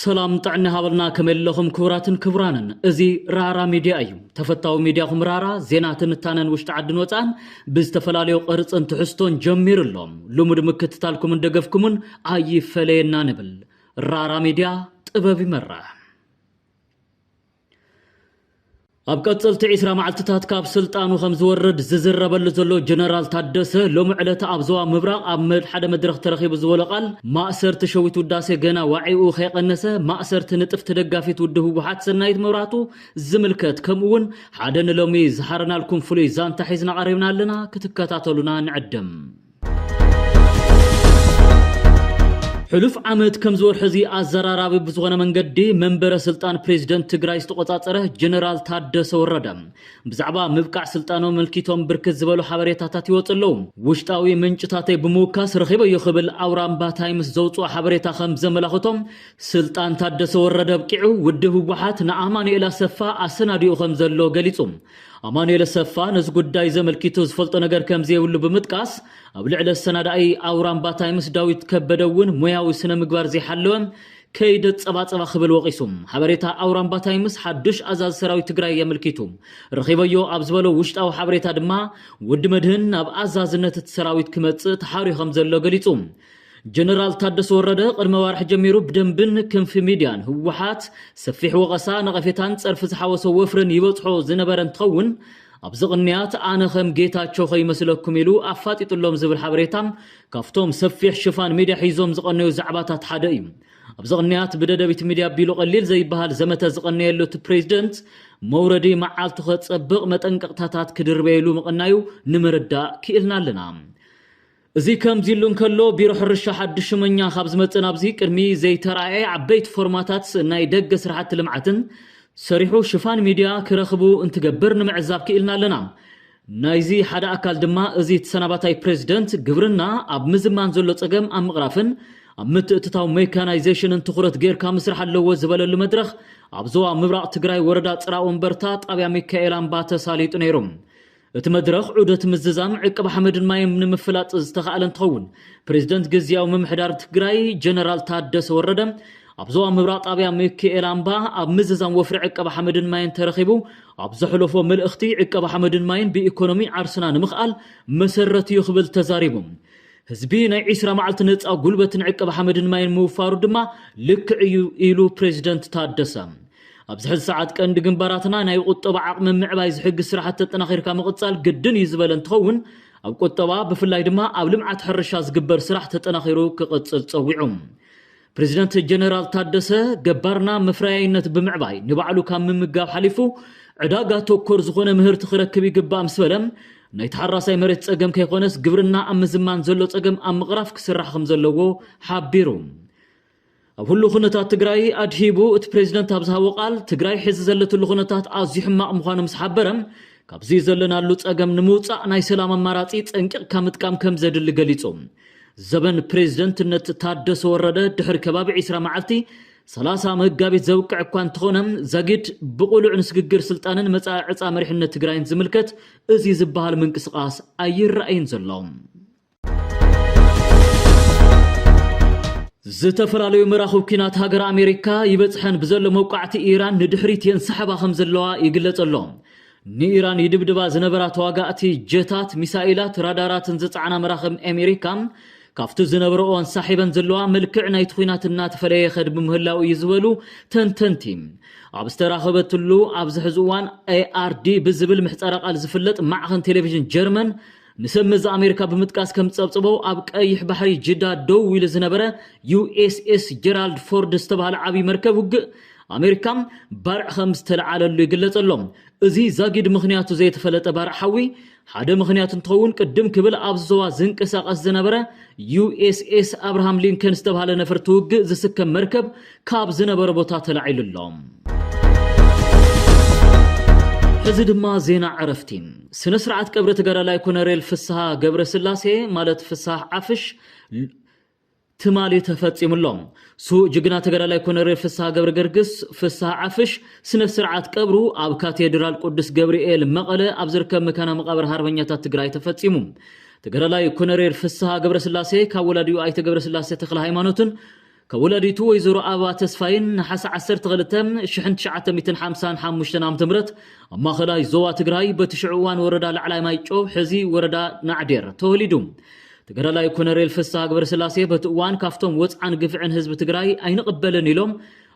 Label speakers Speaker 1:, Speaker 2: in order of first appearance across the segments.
Speaker 1: ሰላም ጥዕና ሃበልና ከመይ ኣለኹም ክቡራትን ክቡራንን እዚ ራራ ሚድያ እዩ ተፈታዊ ሚድያኹም ራራ ዜና ትንታነን ውሽጢ ዓድን ወፃእን ብዝተፈላለዩ ቅርፅን ትሕዝቶን ጀሚሩ ኣሎ ልሙድ ምክትታልኩምን ደገፍኩምን ኣይፈለየና ንብል ራራ ሚድያ ጥበብ ይመራሕ ኣብ ቀጽልቲ ዒስራ መዓልትታት ካብ ስልጣኑ ከም ዝወርድ ዝዝረበሉ ዘሎ ጀነራል ታደሰ ሎሚ ዕለት ኣብ ዞባ ምብራቕ ኣብ ሓደ መድረኽ ተረኺቡ ዝበሎ ቃል ማእሰርቲ ሸዊት ውዳሴ ገና ዋዒኡ ከይቐነሰ ማእሰርቲ ንጥፍቲ ደጋፊት ውድ ህወሓት ሰናይት መብራቱ ዝምልከት ከምኡ እውን ሓደ ንሎሚ ዝሓረናልኩም ፍሉይ ዛንታ ሒዝና ቀሪብና ኣለና ክትከታተሉና ንዕድም። ሕሉፍ ዓመት ከምዚ ወርሒ እዚ ኣዘራራቢ ብዝኾነ መንገዲ መንበረ ስልጣን ፕሬዚደንት ትግራይ ዝተቆፃፀረ ጀነራል ታደሰ ወረደ ብዛዕባ ምብቃዕ ስልጣኖ መልኪቶም ብርክት ዝበሉ ሓበሬታታት ይወፁ ኣለዉ ውሽጣዊ ምንጭታተይ ብምውካስ ረኺበዮ ክብል ኣውራምባ ታይምስ ዘውፅኦ ሓበሬታ ከም ዘመላኽቶም ስልጣን ታደሰ ወረደ ኣብቂዑ ውድብ ህወሓት ንኣማኑኤል ኣሰፋ ኣሰናዲኡ ከም ዘሎ ገሊፁ ኣማኑኤል ኣሰፋ ነዚ ጉዳይ እዚ ኣመልኪቱ ዝፈልጦ ነገር ከምዘይብሉ ብምጥቃስ፣ ኣብ ልዕሊ ኣሰናዳኢ ኣውራምባ ታይምስ ዳዊት ከበደ እውን ሞያዊ ስነ ምግባር ዘይሓለወ ከይዲ ኣፀባፀባ ክብል ወቒሱ። ሓበሬታ ኣውራምባ ታይምስ ሓዱሽ ኣዛዚ ሰራዊት ትግራይ ኣመልኪቱ ረኺበዮ ኣብ ዝበሎ ውሽጣዊ ሓበሬታ ድማ ወዲ መድህን ናብ ኣዛዝነት እቲ ሰራዊት ክመፅእ ተሓርዩ ከምዘሎ ገሊፁ። ጀነራል ታደሰ ወረደ ቅድሚ ኣዋርሕ ጀሚሩ ብደንብን ክንፊ ሚድያን ህወሓት ሰፊሕ ወቐሳ፣ ነቐፌታን ፀርፊ ዝሓወሶ ወፍርን ይበፅሖ ዝነበረ እንትኸውን ኣብዚ ቅንያት ኣነ ከም ጌታቸው ከይመስለኩም ኢሉ ኣፋጢጡሎም ዝብል ሓበሬታ ካብቶም ሰፊሕ ሽፋን ሚድያ ሒዞም ዝቐነዩ ዛዕባታት ሓደ እዩ። ኣብዚ ቅንያት ብደደቢት ሚድያ ኣቢሉ ቀሊል ዘይበሃል ዘመተ ዝቐነየሉ እቲ ፕሬዚደንት መውረዲ መዓልቱ ከፀብቕ መጠንቀቕታታት ክድርበየሉ ምቕናዩ ንምርዳእ ክኢልና ኣለና። እዚ ከምዚ'ሉ እንከሎ፣ ቢሮ ሕርሻ ሓድሽ ሹመኛ ካብ ዝመጽእ ናብዚ ቅድሚ ዘይተራእየ ዓበይቲ ፎርማታት ናይ ደገ ስራሕቲ ልምዓትን ሰሪሑ ሽፋን ሚድያ ክረኽቡ እንትገብር ንምዕዛብ ክኢልና ኣለና። ናይዚ ሓደ ኣካል ድማ እዚ ተሰናባታይ ፕረዚደንት ግብርና ኣብ ምዝማን ዘሎ ጸገም ኣብ ምቕራፍን ኣብ ምትእትታው ሜካናይዜሽንን ትኹረት ገይርካ ምስራሕ ኣለዎ ዝበለሉ መድረኽ ኣብ ዞባ ምብራቕ ትግራይ ወረዳ ፅራወንበርታ ጣብያ ሚካኤል ኣምባ ተሳሊጡ ነይሩ። እቲ መድረኽ ዑደት ምዝዛም ዕቅብ ሓመድን ማይን ንምፍላጥ ዝተኻእለ እንትኸውን፣ ፕሬዚደንት ግዝያዊ ምምሕዳር ትግራይ ጀነራል ታደሰ ወረደ ኣብ ዞባ ምብራቕ ጣብያ ሚኪኤል ኣምባ ኣብ ምዝዛም ወፍሪ ዕቀባ ሓመድን ማይን ተረኺቡ ኣብ ዘሕለፎ መልእኽቲ ዕቀባ ሓመድን ማይን ብኢኮኖሚ ዓርስና ንምኽኣል መሰረት እዩ ክብል ተዛሪቡ። ህዝቢ ናይ ዒስራ መዓልቲ ነፃ ጉልበትን ዕቀባ ሓመድን ማይን ምውፋሩ ድማ ልክዕ እዩ ኢሉ ፕሬዚደንት ታደሰ። ኣብዚ ሕዚ ሰዓት ቀንዲ ግንባራትና ናይ ቁጠባ ዓቕሚ ምዕባይ ዝሕግዝ ስራሕቲ ተጠናኺርካ ምቕፃል ግድን እዩ ዝበለ እንትኸውን ኣብ ቁጠባ ብፍላይ ድማ ኣብ ልምዓት ሕርሻ ዝግበር ስራሕ ተጠናኺሩ ክቕፅል ፀዊዑ ፕሬዚደንት ጀነራል ታደሰ ገባርና መፍረያይነት ብምዕባይ ንባዕሉ ካብ ምምጋብ ሓሊፉ ዕዳጋ ተኮር ዝኾነ ምህርቲ ክረክብ ይግባእ ምስ በለ ናይ ተሓራሳይ መሬት ፀገም ከይኮነስ ግብርና ኣብ ምዝማን ዘሎ ፀገም ኣብ ምቕራፍ ክስራሕ ከም ዘለዎ ሓቢሩ ኣብ ህሉው ኩነታት ትግራይ ኣድሂቡ እቲ ፕሬዚደንት ኣብ ዝሃቦ ቃል ትግራይ ሕዚ ዘለትሉ ኩነታት ኣዝዩ ሕማቕ ምዃኑ ምስ ሓበረ ካብዚ ዘለናሉ ፀገም ንምውፃእ ናይ ሰላም ኣማራፂ ፀንቂቕካ ምጥቃም ከምዘድሊ ገሊፁ። ዘበን ፕሬዚደንትነት ታደሰ ወረደ ድሕሪ ከባቢ ዒስራ መዓልቲ ሰላሳ መጋቢት ዘብቅዕ እኳ እንተኾነ ዛጊድ ብቑሉዕ ንስግግር ስልጣንን መፃኢ ዕፃ መሪሕነት ትግራይን ዝምልከት እዚ ዝበሃል ምንቅስቓስ ኣይረኣይን ዘሎ። ዝተፈላለዩ መራኽብ ኲናት ሃገረ ኣሜሪካ ይበጽሐን ብዘሎ መውቃዕቲ ኢራን ንድሕሪት የንሳሕባ ከም ዘለዋ ይግለጽ ኣሎ። ንኢራን ይድብድባ ዝነበራ ተዋጋእቲ ጀታት፣ ሚሳይላት፣ ራዳራትን ዝጸዓና መራኽብ ኣሜሪካ ካብቲ ዝነበረኦ ኣንሳሒበን ዘለዋ መልክዕ ናይቲ ኲናት እናተፈለየ ይኸድ ብምህላው እዩ ዝበሉ ተንተንቲ ኣብ ዝተራኸበትሉ ኣብዚ ሕዚ እዋን ኤኣርዲ ብዝብል ምሕጸረ ቃል ዝፍለጥ ማዕኸን ቴሌቪዥን ጀርመን ንሰብ መዚ ኣሜሪካ ብምጥቃስ ከም ዝጸብጸቦ፣ ኣብ ቀይሕ ባሕሪ ጅዳ ደው ኢሉ ዝነበረ ዩኤስኤስ ጀራልድ ፎርድ ዝተባህለ ዓብዪ መርከብ ውግእ ኣሜሪካ ባርዕ ከም ዝተለዓለሉ ይግለጽ ኣሎ። እዚ ዛጊድ ምኽንያቱ ዘይተፈለጠ ባርዕ ሓዊ፣ ሓደ ምኽንያት እንትኸውን ቅድም ክብል ኣብዚ ዞባ ዝንቀሳቐስ ዝነበረ ዩኤስኤስ ኣብርሃም ሊንከን ዝተባህለ ነፈርቲ ውግእ ዝስከም መርከብ ካብ ዝነበረ ቦታ ተላዒሉ ኣሎ። ሕዚ ድማ ዜና ዕረፍቲ። ስነ ስርዓት ቀብሪ ተጋዳላይ ኮነሬል ፍስሃ ገብረስላሴ ማለት ፍሳህ ዓፍሽ ትማሊ ተፈጺሙ ኣሎ። ስዉእ ጅግና ተጋዳላይ ኮነሬል ፍስሃ ገብረገርግስ፣ ፍስሃ ዓፍሽ፣ ስነ ስርዓት ቀብሩ ኣብ ካቴድራል ቅዱስ ገብርኤል መቐለ ኣብ ዝርከብ መካና መቓብር ሃርበኛታት ትግራይ ተፈጺሙ። ተጋዳላይ ኮነሬል ፍስሃ ገብረስላሴ ካብ ወላዲኡ ኣይተ ገብረስላሴ ተክለ ሃይማኖትን ከወላዲቱ ወይዘሮ ኣበባ ተስፋይን ነሓሰ ዓሰርተ ክልተ፣ ሽሕን ትሽዓተ ሚእትን ሓምሳን ሓሙሽተን ዓመተ ምህረት ኣብ ማእኸላይ ዞባ ትግራይ በቲ ሽዑ እዋን ወረዳ ላዕላይ ማይጨው ሕዚ ወረዳ ናዕዴር ተወሊዱ። ተጋዳላይ ኮነሬል ፍስሃ ግብረስላሴ በቲ እዋን ካፍቶም ወፅዓን ግፍዕን ህዝቢ ትግራይ ኣይንቕበልን ኢሎም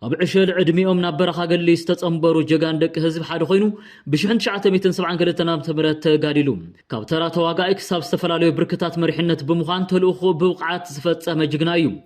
Speaker 1: ኣብ ዕሸል ዕድሚኦም ናብ በረኻ ገሊ ዝተፀምበሩ ጀጋን ደቂ ህዝቢ ሓደ ኮይኑ ብሽሕን ትሽዓተ ሚእትን ሰብዓን ክልተን ዓመተ ምህረት ተጋዲሉ ካብ ተራ ተዋጋኢ ክሳብ ዝተፈላለዩ ብርክታት መሪሕነት ብምዃን ተልእኹኡ ብብቕዓት ዝፈፀመ ጅግና እዩ።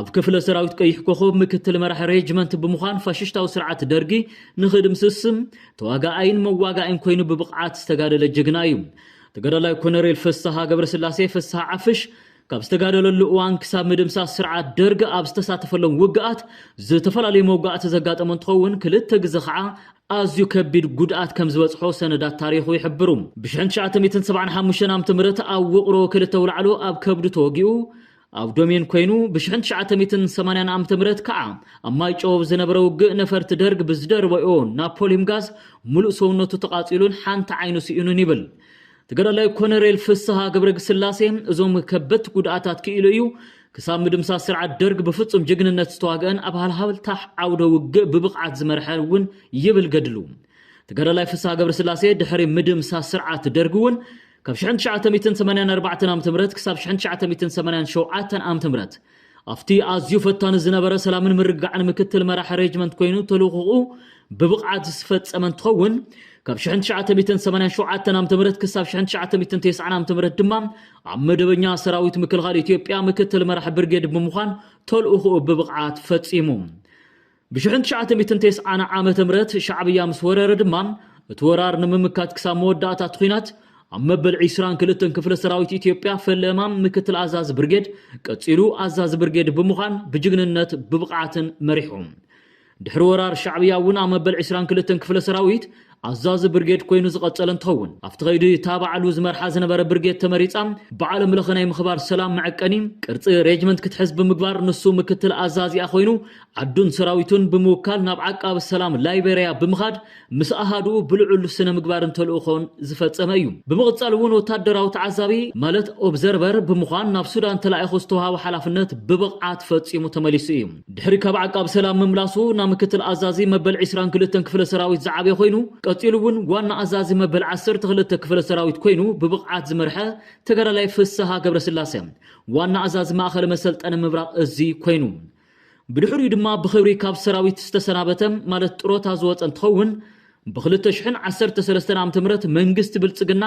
Speaker 1: ኣብ ክፍለ ሰራዊት ቀይሕ ኮኾብ ምክትል መራሒ ሬጅመንት ብምዃን ፋሽሽታዊ ስርዓት ደርጊ ንኽድምስስ ተዋጋኣይን መዋጋእን ኮይኑ ብብቕዓት ዝተጋደለ ጅግና እዩ። ተጋዳላይ ኮነሬል ፍስሃ ገብረስላሴ ፍስሃ ዓፍሽ ካብ ዝተጋደለሉ እዋን ክሳብ ምድምሳስ ስርዓት ደርግ ኣብ ዝተሳተፈሎም ውግኣት ዝተፈላለዩ መውጋእቲ ዘጋጠሞ እንትኸውን ክልተ ግዘ ከዓ ኣዝዩ ከቢድ ጉድኣት ከም ዝበፅሖ ሰነዳት ታሪኹ ይሕብሩ። ብ1975 ዓ.ም ኣብ ውቕሮ ክልተ ኣውላዕሎ ኣብ ከብዱ ተወጊኡ ኣብ ዶሜን ኮይኑ ብሽሕን ትሽዓተ ሚትን ሰማንያን ዓመተ ምህረት ከዓ ኣብ ማይጨው ኣብ ዝነበረ ውግእ ነፈርቲ ደርግ ብዝደርበኦ ናፖሊም ጋዝ ሙሉእ ሰውነቱ ተቓፂሉን ሓንቲ ዓይኑ ስኢኑን ይብል ተጋዳላይ ኮነሬል ፍስሃ ገብረግስላሴ እዞም ከበድቲ ጉድኣታት ክኢሉ እዩ ክሳብ ምድምሳስ ስርዓት ደርግ ብፍፁም ጅግንነት ዝተዋግአን ኣብ ሃልሃብታሕ ዓውደ ውግእ ብብቕዓት ዝመርሐ እውን ይብል ገድሉ ተጋዳላይ ፍስሃ ገብረስላሴ ድሕሪ ምድምሳስ ስርዓት ደርግ እውን ካብ ሽሕን ትሽዓተ ሚእትን ሰማንያን ኣርባዕተን ዓመተ ምህረት ክሳብ ሽሕን ትሽዓተ ሚእትን ሰማንያን ሸውዓተን ዓመተ ምህረት ኣብቲ ኣዝዩ ፈታኒ ዝነበረ ሰላምን ምርግጋዕን ምክትል መራሒ ሬጅመንት ኮይኑ ተልእኾኡ ብብቕዓት ዝፈጸመ እንትኸውን ካብ ሽሕን ትሽዓተ ሚእትን ሰማንያን ሸውዓተን ዓመተ ምህረት ክሳብ ሽሕን ትሽዓተ ሚእትን ተስዓን ዓመተ ምህረት ድማ ኣብ መደበኛ ሰራዊት ምክልኻል ኢትዮጵያ ምክትል መራሒ ብርጌድ ብምዃን ተልእኾኡ ብብቕዓት ፈጺሙ ብሽሕን ትሽዓተ ሚእትን ቴስዓን ዓመተ ምህረት ሻዕብያ ምስ ወረረ ድማ እቲ ወራር ንምምካት ክሳብ መወዳእታ እቲ ኹናት ኣብ መበል ዕስራን ክልተን ክፍለ ሰራዊት ኢትዮጵያ ፈለማ ምክትል ኣዛዚ ብርጌድ ቀፂሉ ኣዛዚ ብርጌድ ብምዃን ብጅግንነት ብብቕዓትን መሪሑ ድሕሪ ወራር ሻዕብያ እውን ኣብ መበል ዕስራን ክልተን ክፍለ ሰራዊት ኣዛዚ ብርጌድ ኮይኑ ዝቐጸለ እንትኸውን፣ ኣብቲ ከይዲ እታ ባዕሉ ዝመርሓ ዝነበረ ብርጌድ ተመሪጻ ብዓለም ለኸ ናይ ምኽባር ሰላም መዐቀኒ ቅርጺ ሬጅመንት ክትሕዝ ብምግባር ንሱ ምክትል ኣዛዚኣ ኮይኑ ዓዱን ሰራዊቱን ብምውካል ናብ ዓቃቢ ሰላም ላይቤሪያ ብምኻድ ምስ ኣሃዱኡ ብልዑል ስነ ምግባርን ተልእኾን ዝፈጸመ እዩ። ብምቕጻል እውን ወታደራዊ ተዓዛቢ ማለት ኦብዘርቨር ብምዃን ናብ ሱዳን ተላኢኹ ዝተውሃቦ ሓላፍነት ብብቕዓት ፈጺሙ ተመሊሱ እዩ። ድሕሪ ካብ ዓቃብ ሰላም ምምላሱ ናብ ምክትል ኣዛዚ መበል ዕስራን ክልተን ክፍለ ሰራዊት ዝዓብየ ኮይኑ፣ ቀጺሉ እውን ዋና ኣዛዚ መበል ዓሰርተ ክልተ ክፍለ ሰራዊት ኮይኑ ብብቕዓት ዝመርሐ ተጋዳላይ ፍስሃ ገብረስላሰ ዋና ኣዛዚ ማእኸለ መሰልጠኒ ምብራቕ እዚ ኮይኑ። ብድሕሪኡ ድማ ብኽብሪ ካብ ሰራዊት ዝተሰናበተ ማለት ጥሮታ ዝወፀ እንትኸውን፣ ብ ክልተ ሽሕን ዓሰርተ ሰለስተን ዓመተ ምህረት መንግስቲ ብልፅግና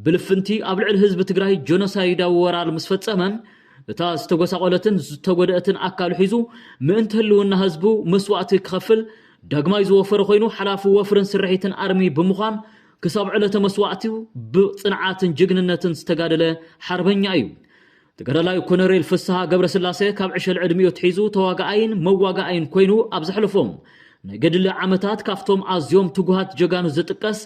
Speaker 1: ብልፍንቲ ኣብ ልዕሊ ህዝቢ ትግራይ ጆኖሳይዳዊ ወራር ምስ ፈፀመ እታ ዝተጎሳቖለትን ዝተጎደእትን ኣካሉ ሒዙ ምእንቲ ህልውና ህዝቡ መስዋእቲ ክኸፍል ዳግማይ ዝወፈረ ኮይኑ ሓላፊ ወፍርን ስርሒትን ኣርሚ ብምዃን ክሳብ ዕለተ መስዋእቲኡ ብፅንዓትን ጅግንነትን ዝተጋደለ ሓርበኛ እዩ። ተጋዳላይ ኮነሬል ፍስሃ ገብረስላሰ ካብ ዕሸል ዕድሚኡ ኣትሒዙ ተዋጋኣይን መዋጋኣይን ኮይኑ ኣብ ዘሕለፎም ናይ ገድሊ ዓመታት ካብቶም ኣዝዮም ትጉሃት ጀጋኑ ዝጥቀስ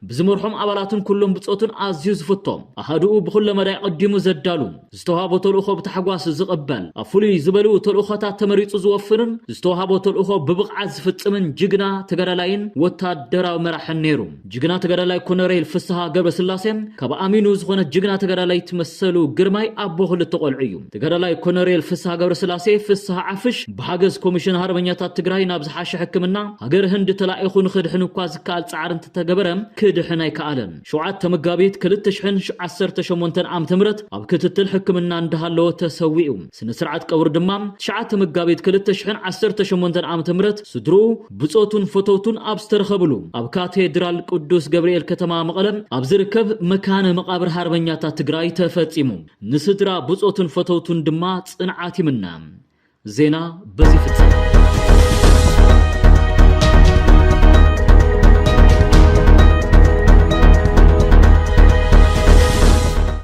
Speaker 1: ብዝመርሖም ኣባላትን ኩሎም ብጾቱን ኣዝዩ ዝፍቶም ኣሃዱኡ ብኹለ መዳይ ቐዲሙ ዘዳሉ ዝተዋሃቦ ተልእኾ ብታሕጓስ ዝቕበል ኣብ ፍሉይ ዝበሉ ተልእኾታት ተመሪጹ ዝወፍርን ዝተዋሃቦ ተልእኾ ብብቕዓት ዝፍጽምን ጅግና ተጋዳላይን ወታደራዊ መራሕን ነይሩ። ጅግና ተጋዳላይ ኮነሬል ፍስሃ ገብረስላሴ ካብ ኣሚኑ ዝኾነት ጅግና ተጋዳላይት መሰሉ ግርማይ ኣቦ ክልተ ቆልዑ እዩ። ተጋዳላይ ኮነሬል ፍስሃ ገብረስላሴ፣ ፍስሃ ዓፍሽ፣ ብሓገዝ ኮሚሽን ሃርበኛታት ትግራይ ናብ ዝሓሸ ሕክምና ሃገር ህንዲ ተላኢኹ ንኽድሕን እኳ ዝከኣል ፃዕሪ እንተተገበረ ክድሕን ኣይከኣለን። ሸውዓተ መጋቢት ክልተ ሽሕን ዓሰርተ ሸሞንተን ዓመተ ምህረት ኣብ ክትትል ሕክምና እንዳሃለወ ተሰዊኡ። ስነ ስርዓት ቀብሩ ድማ ትሽዓተ መጋቢት ክልተ ሽሕን ዓሰርተ ሸሞንተን ዓመተ ምህረት ስድርኡ ብጾቱን ፈተውቱን ኣብ ዝተረኸብሉ ኣብ ካቴድራል ቅዱስ ገብርኤል ከተማ መቐለ ኣብ ዝርከብ መካነ መቓብር ሃርበኛታት ትግራይ ተፈጺሙ። ንስድራ ብጾቱን ፈተውቱን ድማ ጽንዓት ይምነ። ዜና በዚ ይፍጸም።